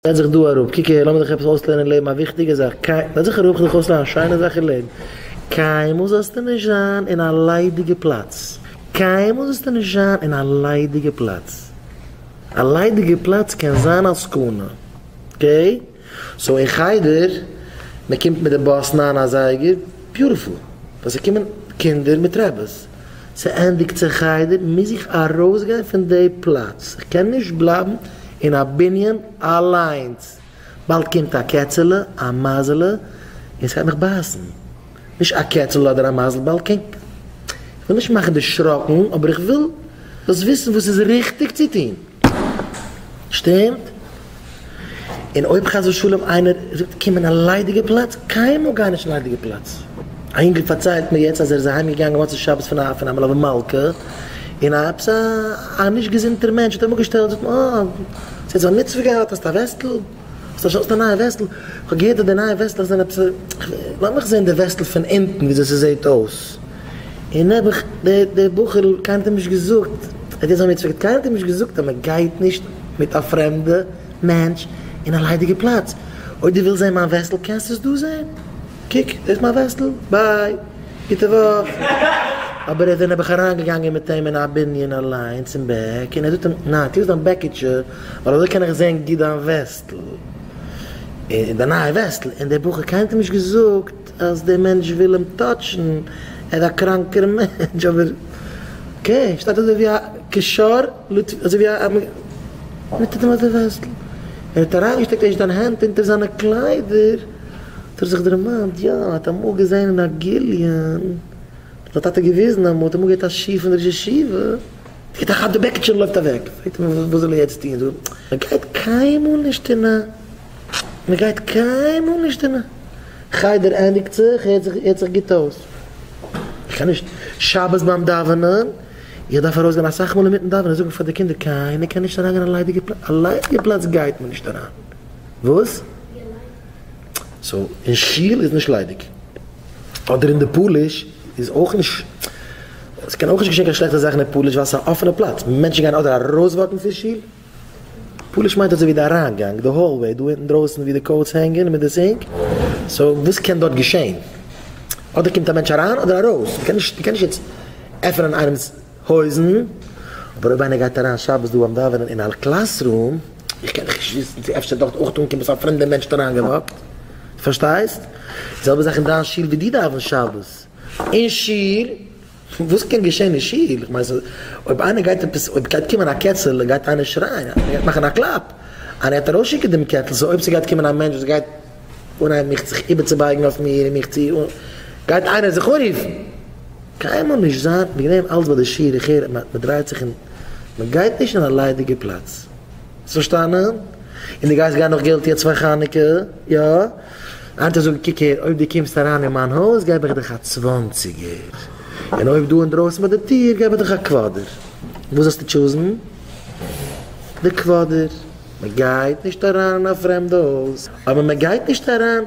זעץ זיך דא אראפ, קוק אהער, לאמיר דיך עפעס אויסלערנען אין לעבן א וויכטיגע זאך, קיי, זעץ זיך אראפ, כ'וועל דיך אויסלערנען א שיינע זאך אין לעבן, קיינמאל זאלסטו נישט זיין אין א ליידיגע פלאץ, קיינמאל זאלסטו נישט זיין אין א ליידיגע פלאץ, א ליידיגע פלאץ קען זיין א סכנה, אקעי? סאו אין חדר, מען קומט מיט די באס ניין אזייגער, ביוטיפול, ווען ס'קומען קינדער מיט רעבעס. ס'ענדיגט זיך חדר, מוז איך ארויסגיין פון די פלאץ, איך קען נישט בלייבן אין א בנין אליינס, באלד קומט א קעצעלע, א מייזעלע, און ס'גייט מיך בייסן, נישט א קעצעלע אדער א מייזל, באלד קומט, איך וויל נישט מאכן דערשראקן, אבער איך וויל. זאלסט וויסן וואס איז ריכטיג צו טון, שטימט? און אויב חס ושלום איינער זאגט קום אין א ליידיגע פלאץ, קיינמאל גיי נישט אין א ליידיגע פלאץ. א אינגל פארציילט מיר יעצט אז ער איז אהיים געגאנגען מוצאי שבת פון א פון א מלוה מלכה, און א עפעס א נישט געזונטער מענטש האט אים אפגעשטעלט, זאגט מען, אה, ס'העט זיך א מצוה געהאט, האסט א וועסטל? האסט א שאס די נייע וועסטל? כ'האב געהערט אז די נייע וועסטלעך זענען עפעס א. לאמיך זען די וועסטל פון אונטן וויאזוי ס'זעהט אויס. און נעבעך, דער בחור'ל, קיינער האט אים נישט געזאגט, ער האט יעצט ביי מיר צוריקגערעדט, קיינער האט אים נישט געזאגט אז מ'גייט נישט מיט א פרעמדע מענטש אין א ליידיגע פלאץ. אויב דו ווילסט זען מיין וועסטל קענסטו עס דא זען. קוק, דאס מיין וועסטל. ביי. גוטע וואך. אבער ער איז דער נעבעך אריינגעגאנגען מיט אים אין א בנין אליינס אין בעק, און ער זאגט אים, ניין, טו אויס דיין בעקיטשע. ווייל אזוי קען איך זעהן גוט דיין וועסטל, און דיין נייע וועסטל, און דער בחור קיינמאל נישט געזאגט אז דער מענטש וויל אים טאטשן, ער איז א קראנקער מענטש, אבער אקעי, שטייט אזוי ווי א קשר, אזוי ווי א, מען טוט אים אזוי וועסטל, ער האט אריינגעשטעקט ערשט דיין הענט אונטער זיינע קליידער, האט ער זיך דערמאנט, יא, ער האט אמאל געזעהן אין א גליון, האט זיין טאטע געוויזן אמאל, האט אמאל געהערט א שיעור פון ראש ישיבה, איך טראכט די בעקיטשע לויפט אוועק, פרעגט מען וואס זאל ער יעצט טון, זאגט ער מען גייט קיינמאל נישט אין א מען גייט קיינמאל נישט אין א חדר ענדיגט זיך הערט זיך הערט זיך גוט אויס, איך קען נישט שבת ביים דאווענען, איך דארף ארויס גיין אסאך מאל אינמיטן דאווענען זאג איך פאר די קינדער קיינער קען נישט אריין גיין א ליידיגע פלאץ, א ליידיגע פלאץ גייט מען נישט אריין, וואס? סאו אין שול איז נישט ליידיג. אדער אין די פאליש איז אויך נישט. עס קען אויך נישט געשען קיין שלעכטע זאכן אין פאליש ווייל עס איז א אפענע פלאץ. מענטשן גייען אדער ארויסוואקן פון שול. פאליש מיינט אזויווי די אריינגאנג, די האלוועי דא אינדרויסן ווי די קאוטס הענגען מיט די סינק. סאו וואס קען דארט געשען? אדער קומט א מענטש אריין אדער ארויס. מען קען נישט מען קען נישט יעצט עפענען איינעמס. הויזן, אבער אויב איינער גייט אריין שבת דא ביים דאווענען אין אל קלאס רום, איך קען דיך נישט וויסן צו אפשר דארט אויך אנקומען צו א פרעמדע מענטש אריין געוואקט, פארשטייסט? די זעלבע זאך אין דיין שול ווי דו דאווענסט שבת אין שול, וואס קען געשען אין שול, איך מיין אויב איינער גייט עפעס אויב גייט קומען א קעצעלע גייט איינער שרייען, איינער גייט מאכן א קלאפ, איינער גייט ארויסשיקן דעם קעטל, סאו אויב ס'גייט קומען א מענטש וואס גייט. אנהייבן מיך זיך איבערצובייגן אויף מיר און מיך צו גייט איינער זיך אנרופן. קיינמאל נישט זיין וועגן דעם אלץ ביי די שיעור איך הער אז מ'דרייט זיך און מ'גייט נישט אין א ליידיגע פלאץ. האסט פארשטאנען? און די גייסט גיין נאך געלט יעצט פאר חנוכה? יא? היינט אזוי קוק הער אויב די קומסט אריין אין מיין הויז געב איך דיך א צוואנציגער און אויב דא אינדרויסן ביי די טיר געב איך דיך א קוואדער. וואס זאלסטו טשוזן? די קוואדער. מען גייט נישט אריין אין א פרעמדע הויז, אבער מען גייט נישט אריין,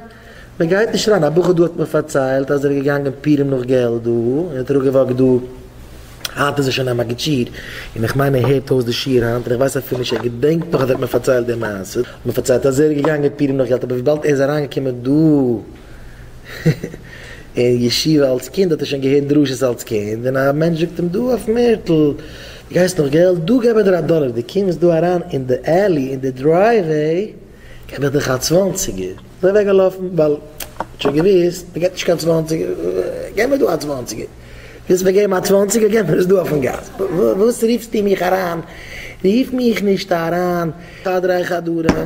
מען גייט נישט אריין, א בחור דא האט מיר פארציילט אז ער איז געגאנגען פורים נאך געלט דא, און האט אראפגעוואקט דא, היינט איז ער שוין א מגיד שיעור, און איך מיין ער הערט אויס די שיעור היינט, און איך ווייס אפילו נישט ער געדענקט נאך אז ער האט מיר פארציילט די מעשה, ער האט מיר פארציילט אז ער איז געגאנגען פורים נאך געלט, אבער וויבאלד ער איז אריינגעקומען דא אין ישיבה אלץ קינד האט ער שוין געהערט דרשות אלץ קינד, און א מענטש זאגט אים דא אויפן ערטל, די גייסט נאך געלט? דא געב איך דיר א דאלער, די קומסט דא אריין אין די עלי אין די דרייוועי געב איך דיך א צוואנציגער, אזוי אוועק געלאפן ווייל ער האט שוין געוויסט מען געט נישט קיין צוואנציגער, געב מיר דא א צוואנציגער, ווילסט מיר געבן א צוואנציגער געב מיר עס דא אויפן גאס, וואס רופסטו מיך אריין, רוף מיך נישט אריין, פאר דריי חדרים.